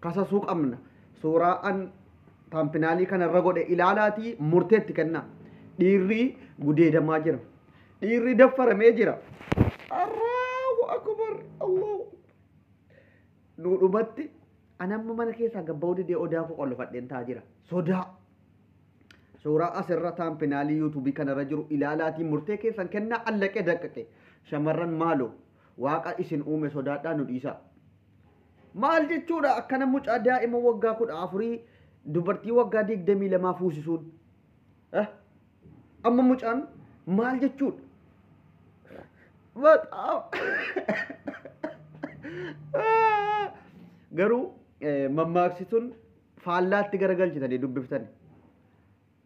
kasasuu qabna. Suuraa an taampinaalii kana irra godhe ilaalaatii murtee itti kennaa. Dhiirri gudeedamaa jira. Dhiirri daffaramee jira. Allahu akbar Allahu nuu dhumatti an amma mana keessaa gabba'uu didee odaa koo qollofadheen taa jira. Sodaa. Suuraa asirra taampinaalii yuutuubii kanarra jiru ilaalaatii murtee keessan kennaa allaqee daqqaqe. Shamarran maaloo waaqa isin uume sodaadhaa nu dhiisaa. Maal jechuudha akkana mucaa daa'ima waggaa kudha afurii dubartii waggaa digdamii lamaa fuusisuun? Eh? Amma mucaan maal jechuudha? Bataam. Garuu eh, mammaaksi tun faallaatti garagalchitanii dubbiftani.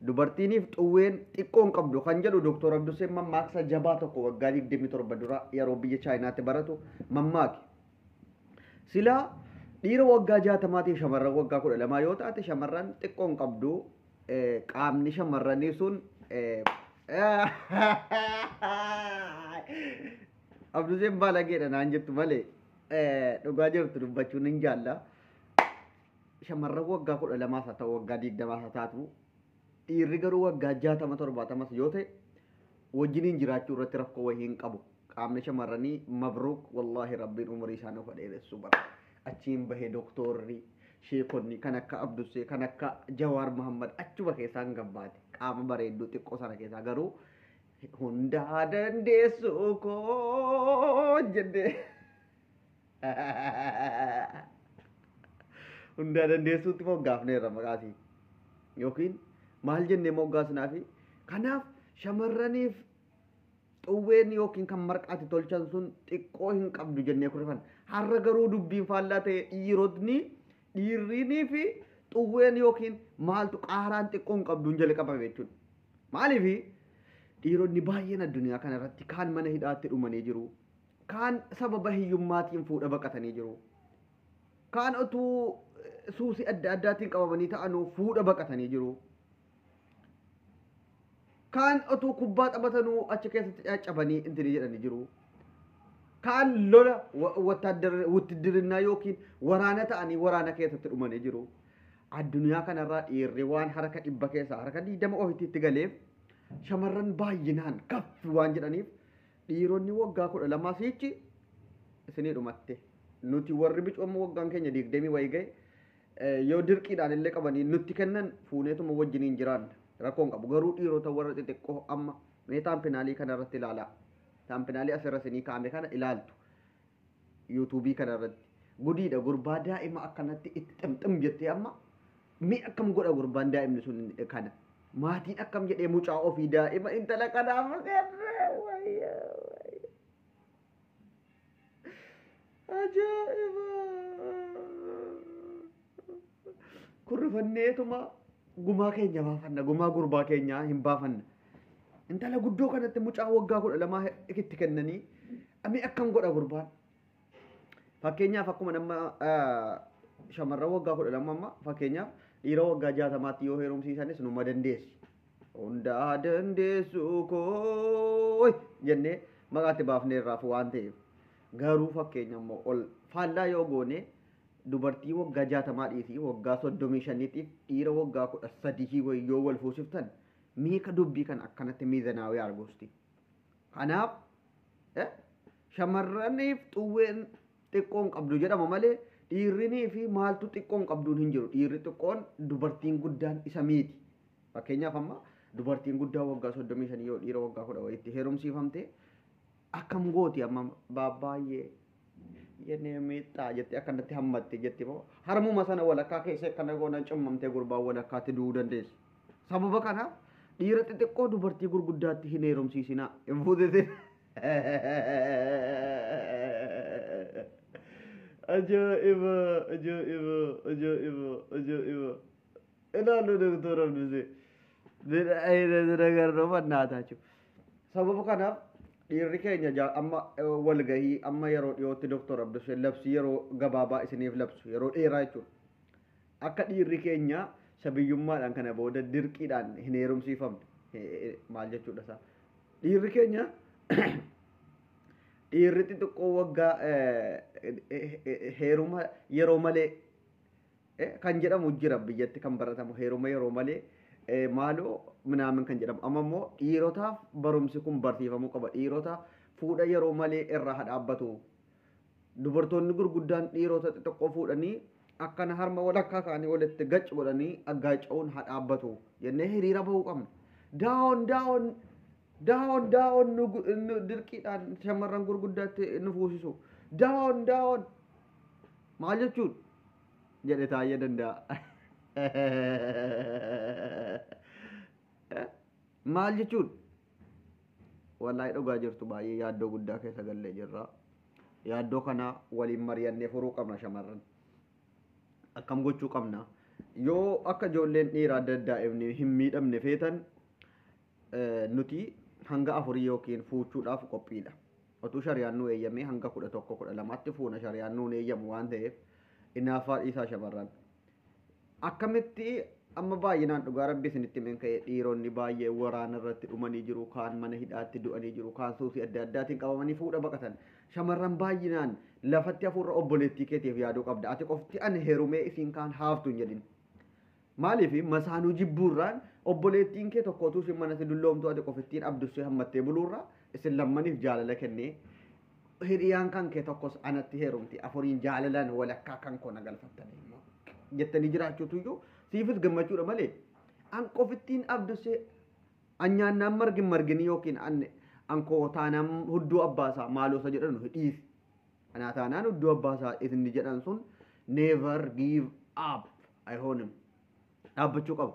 Dubartiiniif xuwween xiqqoo hin qabdu kan jedhu Doktor Abduseen mammaaksa jabaa tokko waggaa 27 dura yeroo biyya Chaayinaatti baratu mammaake. Silaa dhiira waggaa 60tiif shamarran waggaa 12 yoo taate shamarran xiqqoo hin qabdu qaamni shamarranii sun Abduseen baalageedha naan jettu malee dhugaa jirtu dubbachuun hin jaalla. Shamarran waggaa 12s haa ta'u waggaa 20s haa taatu dhiirri garuu waggaa 60 70s yoo ta'e wajjiniin jiraachuu irratti rakkoo wayii hin qabu. Qaamni shamarranii mabruuk wallaahi rabbiin umurii isaa nuuf dheeressu bara. Achiin bahee doktoorri sheekonni kan akka Abdussee kan akka Jawaar Muhammad achuma keessaan gabbaate. Qaama bareedduu xiqqoo sana keessaa garuu hundaa dandeessuu koo jennee. Hundaa dandeessuutti moggaafneerra maqaasii. Yookiin maal jennee moggaasnaafi? Kanaaf shamarraniif xuwween yookiin kan marqaatti tolchan sun xiqqoo hin qabdu jennee kurfan. Har'a garuu dubbiin faallaa ta'e dhiirotni dhiirrinii fi xuwween yookiin maaltu qaaraan xiqqoo hin qabduun jalqabame jechuudha. Maaliif dhiironni baay'een addunyaa kanarratti kaan mana hidhaatti dhumanii jiru. Kaan sababa hiyyummaatiin fuudha baqatanii jiru. Kaan otuu suusii adda addaatiin qabamanii ta'anuu fuudha baqatanii jiru. Kaan otuu kubbaa taphatanuu achi keessatti caccabanii intini jedhanii jiru. Kaan lola wuttidirinnaa yookiin waraana ta'anii waraana keessatti dhumanii jiru. Addunyaa kanarraa dhiirri waan harka dhibba keessaa harka digdama ofitti itti galeef shamarran baay'inaan gaffi waan jedhaniif Dhiironni woggaa kudha lamaa siichi isinii dhumatte. Nuti warri bicuu amma woggaan keenya diigdemii wayii gahe yoo dirqiidhaan illee qabanii nutti kennan fuuneetuma wajjiniin jiraanna. Rakkoo hin qabu. Garuu dhiirota warra xixiqqoo amma mee taampinaalii kana irratti ilaalaa. Taampinaalii asirra isinii kaa'ame kana ilaaltu. YouTube kana irratti. Gudiidha gurbaa daa'ima akkanatti itti ximxim jettee amma mee akkam godha gurbaan daa'imni sun kana. Maatiin akkam jedhee mucaa ofii daa'ima intala kanaa maseerree wayyaa wayyaa. Ajaa'iba! Kun rifanneetuma gumaa keenya baafanna. Gumaa gurbaa keenyaa hin baafanna. Intala guddoo kanatti mucaa waggaa kudha lamaa itti kennanii amee akkam godha gurbaan. Fakkeenyaaf akkuma nama shamarran waggaa kudha lama amma fakkeenyaaf dhiira waggaa jaatamaatti yoo heerumsiisanis numa dandeessi. Hundaa dandeessuu koo jennee maqaatti baafnee irraaf waan ta'eef garuu fakkeenya immoo ol faallaa yoo goonee Dubartii waggaa jaatamaa dhiisii waggaa soddomii shaniitiif dhiira waggaa kudha sadihii wayii yoo wal fuusiftan mee ka dubbii kana akkanatti miizanaawee argu usti. Kanaaf shamarraniif xuwween xiqqoo hin qabdu jedhama malee dhiirrinii fi maaltu xiqqoo hin qabduun hin jiru. Dhiirri xiqqoon dubartiin guddaan isa miiti. Fakkeenyaaf amma dubartiin guddaa waggaa soddomii shanii yoo dhiira waggaa kudha wayiitti heerumsiifamte Akkam gooti amma baabbaayyee yenee miixxaa jettee akkanatti hammatte jetti moo harmuma sana walakkaa keessee akkana goonan cummamtee gurbaan walakkaatti du'uu dandeessi. Sababa kanaaf dhiira xixiqqoo dubartii gurguddaatti hin heerumsiisinaa hin fuutetin. Ajaa'iba ajaa'iba ajaa'iba ajaa'iba ilaaluu doktora Abdusee. Bid'a ayina zira garroo fannaataa jechuudha. Sababa kanaaf dhiirri keenya ja- amma eh, walgahii amma yeroo dhiyootti Dr. Abduseen labsii yeroo gabaabaa isiniif labsu yeroo dheeraa jechuudha. Akka dhiirri keenya sabiyyummaadhaan kana booda dirqiidhaan hin heerumsiifamne Eh, eh, maal jechuudha isaa. Dhiirri keenya dhiirri xixiqqoo waggaa eh, eh, eh, heeruma yeroo malee kan jedhamu jira biyyatti kan baratamu heeruma yeroo malee maaloo minaamin kan jedhamu amma immoo dhiirotaaf barumsi kun barsiifamuu qaba dhiirota fuudha yeroo malee irraa haa dhaabbatu dubartoonni gurguddaan dhiirota xixiqqoo fuudhanii akkana harma walakkaa isaanii walitti gac godhanii aggaaca'uun haa dhaabbatu jennee hiriira bahuu qabna daawon daawon daawon daawon nu gu- nu dirqiidhaan shamarran gurguddaatti nu fuusisu daawon daawon Maal jechuudha? jedhe Taayyee Danda'a. Maal jechuudha? Wallahi dhugaa jirtu baay'ee yaaddoo guddaa keessa gallee jirra. Yaaddoo kana waliin mari'annee furuu qabna shamarran. Akkam gochuu qabna? Yoo akka ijoolleen dhiiraa daa'imni hin miidhamne feetan nuti hanga afurii yookiin fuuchuudhaaf qophiidha. Otuu shariyaan nuu eeyyamee hanga kudha tokko kudha lamaatti fuuna shariyaan nuun eeyyamu waan ta'eef inaaffaa dhiisaa shamarran. Akkamitti amma baay'inaan dhugaa rabbi isinitti himen ka'e dhiironni baay'ee waraana irratti dhumanii jiru kaan mana hidhaatti du'anii jiru kaan suusii adda addaatiin qabamanii fuudha baqatan shamarran baay'inaan lafatti hafuurra obboleettii keetiif yaaduu qabda ati qofti ani herumee isiin kaan haaftu hin jedhin Maaliif masaanuu jibbuurraan obboleettiinkee tokko utuu ishiin manatti dulloomtuu ati qofittiin abdussee hammattee buluurraa isin lammaniif jaalala kennee hiriyaan kankee tokkos anatti heerumti afuriin jaalalaan walakkaa kankoo na galfattanii immoo jettanii jiraachuutuyyuu siifis gammachuudha malee an qofittiin abdussee an nyaannaan margi hin marginii yookiin an ankoo taanaan hudduu abbaasaa maaloosa jedhan dhiisi anaa taanaan hudduu abbaasaa isinni jedhan sun never give up Ayhoonim. Dhaabbachuu qaba.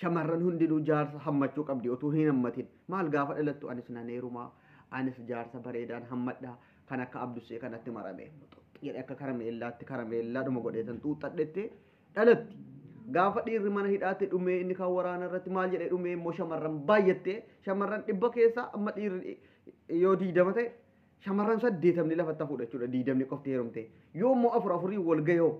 Shamarran hundinuu jaarsa hammachuu qabdi otuu hin hammatin. Maal gaafa dhalattu anis nan heerumaa, anis jaarsa bareedaan hammadha, kan akka Abdussee kanatti marame. Muxuxxi jedhe akka karameellaatti karameellaadhuma godheetan xuuxxadhette dhalatti. Gaafa dhiirri mana hidhaatti dhumee inni kan waraana irratti maal jedhee dhumee immoo shamarran baay'attee shamarran dhibba keessaa amma dhiirri yoo diidama ta'e shamarran saddeetamni lafatti hafuudha jechuudha diidamni qofti heerumtee. Yoo immoo afur afurii wal gahee hoo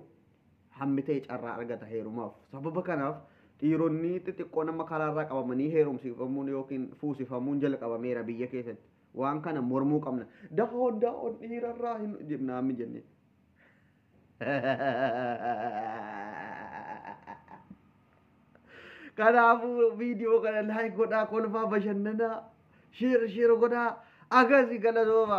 hammi ta'e carraa argata heerumaaf. Sababa kanaaf dhiironni xixiqqoon amma karaarraa qabamanii heerumsiifamuun yookiin fuusifamuun jalqabameera biyya keessatti. Waan kana mormuu qabna. Dahoon dahoon dhiirarraa hin jennaa amma jennee. Kanaafuu viidiyoo kana laayik godhaa kolfaa bashannanaa sheer sheer godhaa agarsi galatooma.